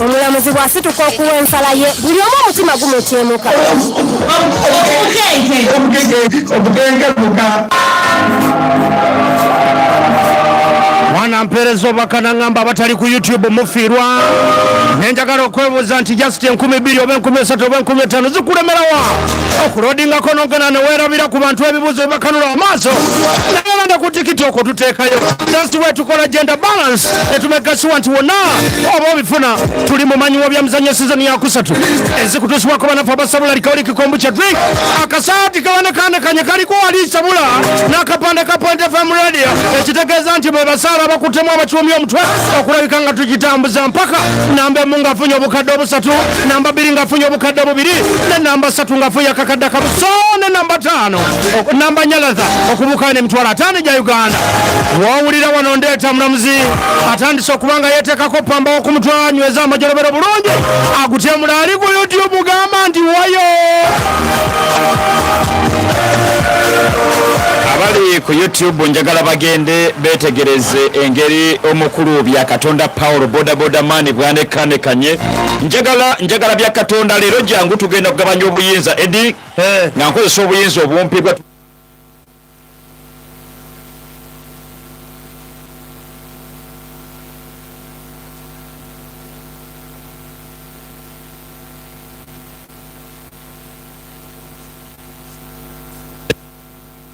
omulamuzi bw'asituka okuwa ensala ye buli omu omutima gumutyemuka mwana mpeereza obubaka nangamba abatali ku youtube mufiirwa nenjagala okwebuuza nti just enkumi bbiri oba enkumi esatu oba enkumi etaano zikuremerawa okulodingako nogana newerabira ku bantu ebibuzo bibakanula amaaso nabalanda ku tikiti okwo tuteekayo dasiwe tukola genda balance etumegasiwa nti wonna oba obifuna tuli mu manyiwo bya mizanyo sizoni yakusatu ezikutusibwako banafu abasabula likaoli kikombu kya drink akasaati kabanekandekanye kaliko wali sabula n'akapande ka point fm radio ekitegeeza nti bebasaala abakuttemu abakiwumya omutwe okulabika nga tugitambuza mpaka namba emu ngafunye obukadde obusatu namba bbiri ng'afunye obukadde bubiri ne namba ssatu ng'afunye akakadde kamu so ne namba taano namba nyalaza okubuukayo n'emitwalo ataano egya uganda wowulira wano ndeeta mulamuzi atandise okuba nga yeeteekako pamba wokumutwe anyweza amajolobero bulungi agutyemula ali ku youtube gamba nti wayo abali ku youtube njagala bagende beetegereze engeri omukulu bya katonda paul bodaboda maani bwanekanekanye njagala njagala bya katonda leero jangu tugenda kugabanya obuyinza edi eh. nga nkozesa obuyinza obumpi bwa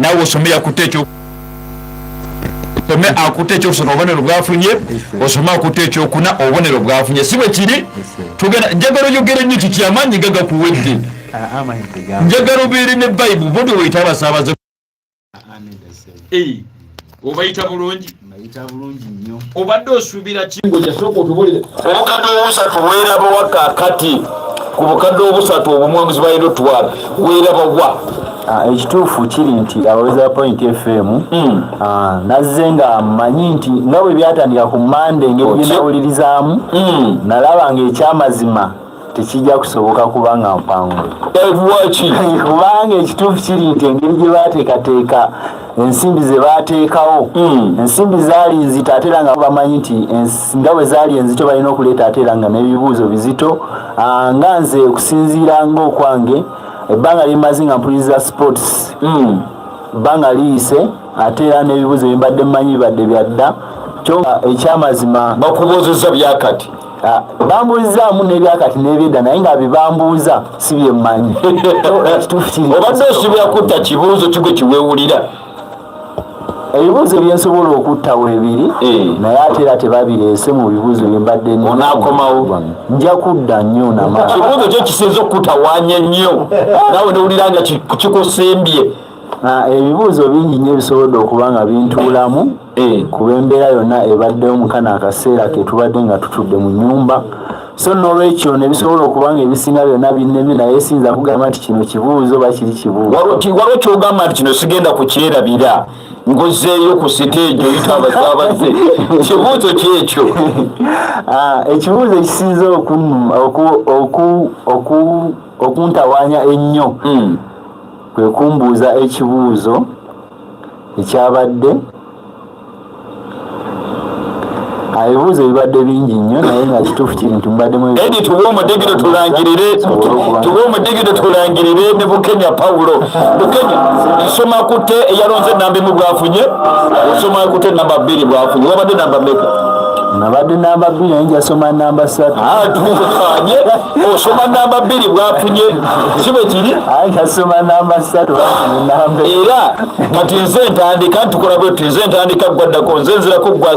nawe osome yakutte ekyo osome akutte ekyokusoma obubonero bwafunye osome akutte ekyokuna obubonero bwafunye si bwe kiri tugenda njagala oyogere nnyo kiki amaanyi gagakuwedde ah, ah, njagala obeere ne bayibu bobi weyita abasaabaze obayita bulungi obadde osuubira kingoyasooka otubulire obukadde obusatu weeraba wakakati ku bukadde obusatu obumwamuzi balina otuwala weeraba wa Ah, ekituufu kiri nti abawezi ba point fm hmm. ah, nazze nga mmanyi nti nga bwe byatandika ku mande ngebyenawulirizaamu hmm. nalaba ngaekyamazima tekijja kusoboka kubanga mpangu kubanga ekituufu kiri nti engeri gye baateekateeka ensimbi ze baateekawo hmm. ensimbi zaali nzito ate era nga bamanyi nti nga bwe zaali enzito balina okuleeta ate era nga n'ebibuuzo bizito ah, nga nze okusinziira ngaokwange ebbanga lyemazi nga mpuliriza sports hmm. bbanga liyise ate era n'ebibuuzo bye mbadde mmanyi bibadde byadda kyo ekyamazima bakubozeza byakati Ah, bambuuzaamu nebyakati nebyedda naye nga bibambuuza si byemmanyi obadde osibira kutta kibuuzo kigo kiwewulira ebibuuzo byensobola okutta webiri eh. naye ate era tebabireese mu bibuuzo byembadde onakomawo nja kudda nnyo namakibuuzo kyo kisinza okukutawanya nnyo nawe nowulira nga kikusembye ah, ebibuuzo bingi nyo ebisobodde okuba nga bintuulamu Eh, kuba embeera yonna ebaddewo mukano akaseera ketubadde nga tutudde mu nyumba so nolwekyo nebisobola okuba nga ebisinga byonna binnemi naye siyinza kugamba nti kino kibuuzo oba kiri kibuuzowaliwo kyogamba nti kino sigenda kukyerabira ngozeeyo ku siteegi oyita abasaabaze kibuuzo kyekyo ah, ekibuuzo ekisinza okuntawaanya ennyo hmm. kwekumbuuza ekibuuzo ekyabadde ebibuuzo bibadde bingi nnyo naye nga kituufu kiri nti mubaddemu edi tuwe omudigiro tulangirire tuwe omudigiro tulangirire ne bukenya pawulo bukenya nsoma kute eyalonze enamba emu bwafunye osoma kute namba bbiri bwafunye wabadde namba meka nabadde namba bbiri naye njasoma namba satu osoma namba bbiri bwafunye kibe kiri kasoma namba satu era kati nze ntandika ntukola bwetu nze ntandika gwaddako nze nzirako gwasi